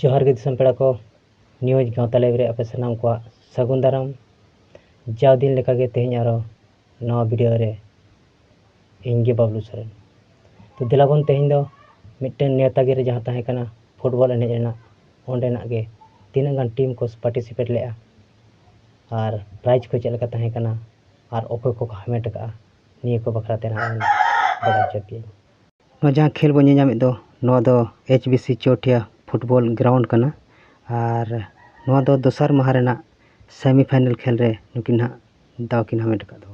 ᱡᱚᱦᱟᱨ ᱜᱮ ᱫᱤᱥᱚᱢ ᱯᱮᱲᱟ ᱠᱚ ᱱᱤᱭᱩᱡᱽ ᱜᱟᱶᱛᱟ ᱞᱟᱭᱤᱵᱷ ᱨᱮ ᱟᱯᱮ ᱥᱟᱱᱟᱢ ᱠᱚᱣᱟᱜ ᱥᱟᱹᱜᱩᱱ ᱫᱟᱨᱟᱢ ᱡᱟᱣ ᱫᱤᱱ ᱞᱮᱠᱟᱜᱮ ᱛᱮᱦᱮᱧ ᱟᱨᱚ ᱱᱚᱣᱟ ᱵᱷᱤᱰᱤᱭᱳ ᱨᱮ ᱤᱧ ᱜᱮ ᱵᱟᱵᱞᱩ ᱥᱚᱨᱮᱱ ᱛᱚ ᱫᱮᱞᱟ ᱵᱚᱱ ᱛᱮᱦᱮᱧ ᱫᱚ ᱢᱤᱫᱴᱮᱱ ᱱᱮᱣᱛᱟ ᱜᱤᱨᱟᱹ ᱡᱟᱦᱟᱸ ᱛᱟᱦᱮᱸ ᱠᱟᱱᱟ ᱯᱷᱩᱴᱵᱚᱞ ᱮᱱᱮᱡ ᱨᱮᱱᱟᱜ ᱚᱸᱰᱮᱱᱟᱜ ᱜᱮ ᱛᱤᱱᱟᱹᱜ ᱜᱟᱱ ᱴᱤᱢ ᱠᱚ ᱯᱟᱨᱴᱤᱥᱤᱯᱮᱴ ᱞᱮᱜᱼᱟ ᱟᱨ ᱯᱨᱟᱭᱤᱡᱽ ᱠᱚ ᱪᱮᱫ ᱞᱮᱠᱟ ᱛᱟᱦᱮᱸ ᱠᱟᱱᱟ ᱟᱨ ᱚᱠᱚᱭ ᱠᱚᱠᱚ ᱦᱟᱢᱮᱴ ᱠᱟᱜᱼᱟ ᱱᱤᱭᱟᱹ ᱠᱚ ᱵᱟᱠᱷᱨᱟ ᱛᱮ ᱱᱟᱦᱟᱜ ᱤᱧ ᱵᱟᱲᱟᱭ ᱦᱚᱪᱚ ᱯᱮᱭᱟᱹᱧ ᱱᱚᱣᱟ ᱡᱟᱦᱟᱸ ᱠᱷᱮᱞ ᱵᱚᱱ ᱧᱮᱞ ᱧᱟᱢᱮᱫ ᱫᱚ ᱱᱚᱣᱟ ᱫᱚ H B C Chowthia football ground ᱠᱟᱱᱟ ᱟᱨ ᱱᱚᱣᱟ ᱫᱚ ᱫᱚᱥᱟᱨ ᱢᱟᱦᱟ ᱨᱮᱱᱟᱜ ᱥᱮᱢᱤ ᱯᱷᱟᱭᱱᱮᱞ ᱠᱷᱮᱞ ᱨᱮ ᱱᱩᱠᱤᱱ ᱦᱟᱸᱜ ᱫᱟᱣ ᱠᱤᱱ ᱦᱟᱢᱮᱴ ᱟᱠᱟᱫ ᱫᱚ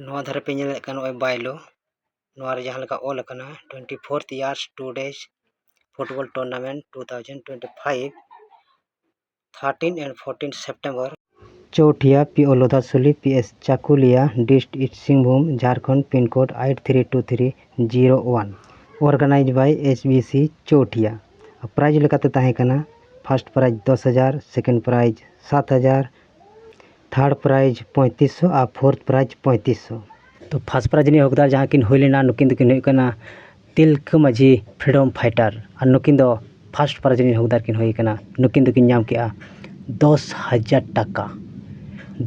ᱱᱚᱣᱟ ᱫᱷᱟᱨᱮ ᱯᱮ ᱧᱮᱞᱮᱫ ᱠᱟᱱ ᱱᱚᱜᱼᱚᱸᱭ ᱵᱟᱭᱞᱳ ᱱᱚᱣᱟ ᱨᱮ ᱡᱟᱦᱟᱸ ᱞᱮᱠᱟ ᱚᱞ ᱟᱠᱟᱱᱟ twenty fourth years two days football tournament two thousand twenty five thirteen and fourteen September Chowthia P O Lodhasuli P S Chakulia dist east Singhbhum Jharkhand pin code eight three two three zero one organised by S B C Chowthia prize ᱞᱮᱠᱟᱛᱮ ᱛᱟᱦᱮᱸ ᱠᱟᱱᱟ first prize ᱫᱚᱥ ᱦᱟᱡᱟᱨ second prize ᱥᱟᱛ ᱦᱟᱡᱟᱨ third prize ᱯᱚᱸᱭᱛᱨᱤᱥ ᱥᱚ ᱟᱨ ᱯᱷᱳᱨᱛᱷ ᱯᱨᱟᱭᱤᱡᱽ ᱯᱚᱸᱭᱛᱨᱤᱥ ᱥᱚ ᱛᱳ ᱯᱷᱟᱥᱴ ᱯᱨᱟᱭᱤᱡᱽ ᱨᱤᱱᱤᱡ ᱦᱚᱠᱫᱟᱨ ᱡᱟᱦᱟᱸᱭ ᱠᱤᱱ ᱦᱩᱭ ᱞᱮᱱᱟ ᱱᱩᱠᱤᱱ ᱫᱚᱠᱤᱱ ᱦᱩᱭᱩᱜ ᱠᱟᱱᱟ ᱛᱤᱞᱠᱟᱹ ᱢᱟᱹᱡᱷᱤ ᱯᱷᱨᱤᱰᱚᱢ ᱯᱷᱟᱭᱴᱟᱨ ᱟᱨ ᱱᱩᱠᱤᱱ ᱫᱚ ᱯᱷᱟᱥᱴ ᱯᱨᱟᱭᱤᱡᱽ ᱨᱤᱱᱤᱡ ᱦᱚᱠᱫᱟᱨ ᱠᱤᱱ ᱦᱩᱭ ᱠᱟᱱᱟ ᱱᱩᱠᱤᱱ ᱫᱚᱠᱤᱱ ᱧᱟᱢ ᱠᱮᱜᱼᱟ ᱫᱚᱥ ᱦᱟᱡᱟᱨ ᱴᱟᱠᱟ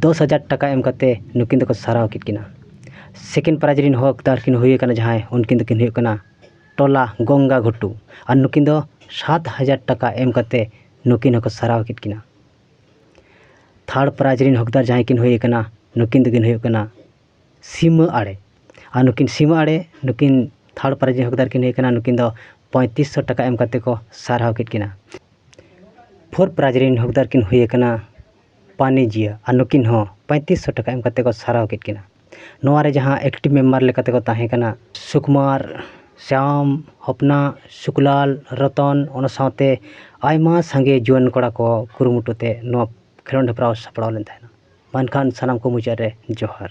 ᱫᱚᱥ ᱦᱟᱡᱟᱨ ᱴᱟᱠᱟ ᱮᱢ ᱠᱟᱛᱮᱫ ᱱᱩᱠᱤᱱ ᱫᱚᱠᱚ ᱥᱟᱨᱦᱟᱣ ᱠᱮᱫ ᱠᱤᱱᱟ ᱥᱮᱠᱮᱱᱰ ᱯᱨᱟᱭᱤᱡᱽ ᱨᱮᱱ ᱦᱚᱠᱫᱟᱨ ᱠᱤᱱ ᱦᱩᱭ ᱠᱟᱱᱟ ᱡᱟᱦᱟᱸᱭ ᱩᱱᱠᱤᱱ ᱫᱚᱠᱤᱱ ᱦᱩᱭᱩᱜ ᱠᱟᱱᱟ ᱴᱚᱞᱟ ᱜᱚᱝᱜᱟ ᱜᱷᱩᱴᱩ ᱟᱨ ᱱᱩᱠᱤᱱ ᱫᱚ ᱥᱟᱛ ᱦᱟᱡᱟᱨ ᱴᱟᱠᱟ ᱮᱢ ᱠᱟᱛᱮᱫ ᱱᱩᱠᱤᱱ ᱦᱚᱸᱠᱚ ᱥᱟᱨᱦᱟᱣ ᱠᱮᱫ ᱠᱤᱱᱟ ᱛᱷᱟᱨᱰ ᱯᱨᱟᱭᱤᱡᱽ ᱨᱮᱱ ᱦᱚᱠᱫᱟᱨ ᱡᱟᱦᱟᱸᱭ ᱠᱤᱱ ᱦᱩᱭ ᱠᱟᱱᱟ ᱱᱩᱠᱤᱱ ᱫᱚᱠᱤᱱ ᱦᱩᱭᱩᱜ ᱠᱟᱱᱟ ᱥᱤᱢᱟᱹ ᱟᱲᱮ ᱟᱨ ᱱᱩᱠᱤᱱ ᱥᱤᱢᱟᱹ ᱟᱲᱮ ᱱᱩᱠᱤᱱ ᱛᱷᱟᱨᱰ ᱯᱨᱟᱭᱤᱡᱽ ᱨᱮᱱ ᱦᱚᱠᱫᱟᱨ ᱠᱤᱱ ᱦᱩᱭ ᱠᱟᱱᱟ ᱱᱩᱠᱤᱱ ᱫᱚ ᱯᱚᱸᱭᱛᱨᱤᱥ ᱥᱚ ᱴᱟᱠᱟ ᱮᱢ ᱠᱟᱛᱮᱫ ᱠᱚ ᱥᱟᱨᱦᱟᱣ ᱠᱮᱫ ᱠᱤᱱᱟ ᱯᱷᱳᱨ ᱯᱨᱟᱭᱤᱡᱽ ᱨᱮᱱ ᱦᱚᱠᱫᱟᱨ ᱠᱤᱱ ᱦᱩᱭ ᱠᱟᱱᱟ ᱯᱟᱱᱤᱡᱤᱭᱟ ᱟᱨ ᱱᱩᱠᱤᱱ ᱦᱚᱸ ᱯᱚᱸᱭᱛᱨᱤᱥ ᱥᱚ ᱴᱟᱠᱟ ᱮᱢ ᱠᱟᱛᱮᱫ ᱠᱚ ᱥᱟᱨᱦᱟᱣ ᱠᱮᱫ ᱠᱤᱱᱟ ᱱᱚᱣᱟᱨᱮ ᱡᱟᱦᱟᱸ ᱮᱠᱴᱤᱵᱷ ᱢᱮᱢᱵᱟᱨ ᱞᱮᱠᱟ ᱛᱮᱠᱚ ᱛᱟᱦᱮᱸ ᱠᱟᱱᱟ ᱥᱩᱠᱩᱢᱟᱨ ᱥᱟᱢ ᱦᱚᱯᱱᱟ ᱥᱩᱠᱞᱟᱞ ᱨᱚᱛᱚᱱ ᱚᱱᱟ ᱥᱟᱶᱛᱮ ᱟᱭᱢᱟ ᱥᱟᱸᱜᱮ ᱡᱩᱣᱟᱹᱱ ᱠᱚᱲᱟ ᱠᱚ ᱠᱩᱨᱩᱢᱩᱴᱩ ᱛᱮ ᱱᱚᱣᱟ ᱠᱷᱮᱞᱳᱰ ᱦᱮᱯᱨᱟᱣ ᱥᱟᱯᱲᱟᱣ ᱞᱮᱱ ᱛᱟᱦᱮᱱᱟ ᱢᱮᱱᱠᱷᱟᱱ ᱥᱟᱱᱟᱢ ᱠᱚ ᱢᱩᱪᱟᱹᱫ ᱨᱮ ᱡᱚᱦᱟᱨ